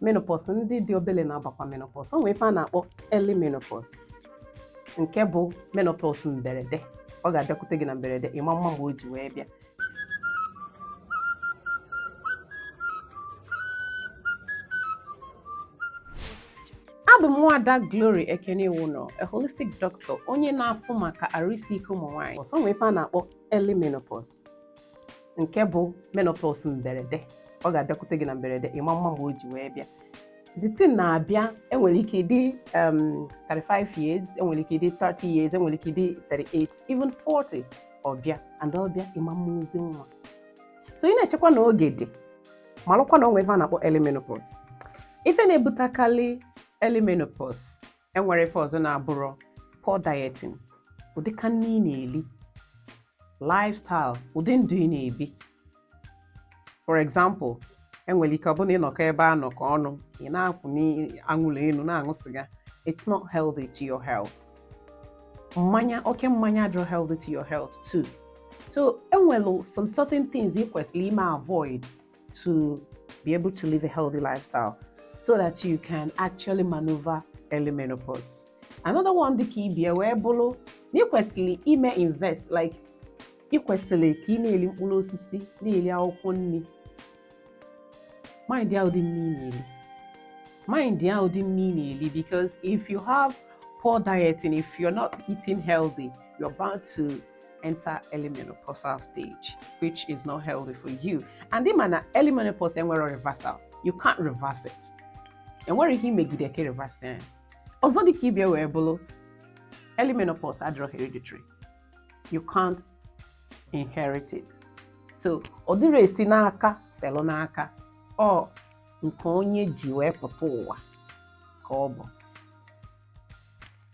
menopause ndị dị obele na-abakwa menopause o nwere ife a na-akpọ early menopause nke bụ menopause mberede ọ ga-abịakwute gị na mberede ị ma-ama mgbe o ji wee bịa abụ m nwada Glory Ekene Iwuno a holistic doctor onye na-afụ maka arụ isi ike ụmụ nwaanyị so o nwee ife a na-akpọ early menopause nke bụ menopause mberede ọ ga-abịakwute gị na mberede ị ma-ama mgbe o ji wee bịa the thing na-abịa enwere ike ịdị 35 um, years enwere ike ịdị 30 years enwere ike ịdị 38 even 40 ọ bịa and ọ bịa ị ma-ama ozi nwa so ị na-echekwa na oge dị malụkwa na o nwe ife a na-akpọ early menopause ife na-ebutekarị early menopause enwere ife ọzọ na-abụrụ poor dieting ụdị ka nni ị na-eli lifestyle ụdị ndụ ị na-ebi for example enwere ike ọ bụrụ na ị nọkọ ebe a nọkọ ọnụ ị na-akwụ anwụlụ enu na-aṅụ sịga it's not healthy to your health mmanya oke mmanya adịrọ healthy to your health too so enwere some certain things ị kwesịrị ime avoid to be able to live a healthy lifestyle so that you can actually maneuver early menopause. Another one dịka ibe ya wee bụrụ na ị kwesịrị ime invest like ị kwesịrị ka ị na-eri mkpụrụ osisi na-eri akwụkwọ nri mind ya ụdị nri ị na-eri mind ya ụdị nri ị na-eri because if you have poor diet and if you're not eating healthy you're bound to enter early menopausal stage, which is not healthy for you. And ị ma na early menopause enwerọ reversal. You can't reverse it. Enwerọ ihe i megide ka i reverse ya. Ọzọ dịka ibe ya wee bụlụ early menopause adịrọ hereditary. You can't inherit it. So, ọ dịrọ esi n'aka felu n'aka ọ nke onye ji wee pụta ụwa ka ọ bụ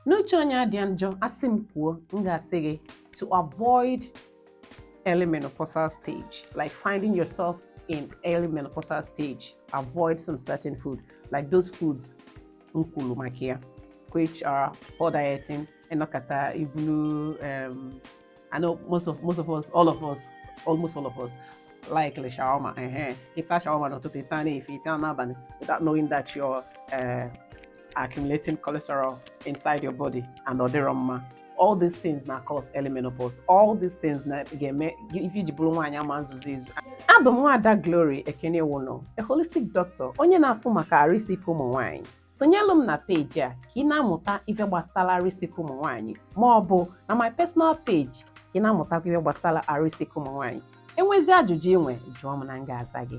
na uche onye adị ya njọ a sị m kwuo m ga-asị gị to avoid early menopausal stage like finding yourself in early menopausal stage avoid some certain food like those foods m kwuru maka ya which are poor dieting ị nọkata i bulu um, I know most of most of us, all of us, almost all of us, like ili shawarma. Uh-huh. Ị ta shawarma n'ụtụtụ, taa n'efifie, taa n'abanị without knowing that you're uh, accumulating cholesterol inside your body and ọ dịrọ mma. All these things na cause early menopause. All these things ga-eme ife i ji bụrụ nwaanyị ama-ezuzi ezu. Abụ m nwaada Glory Ekene Iwuno, a holistic doctor, onye na-afụ maka arụ isi ike ụmụ nwaanyị. sonyelụ m na peji a ka ị na-amụta ife gbasatalụ arụ isi ike ụmụ nwaanyị ma ọ bụ na my personal page ka ị na-amụtakwa ife gbasatalụ arụ isi ike ụmụ nwaanyị enwezi ajụjụ i nwe jụọ m na m ga-aza gị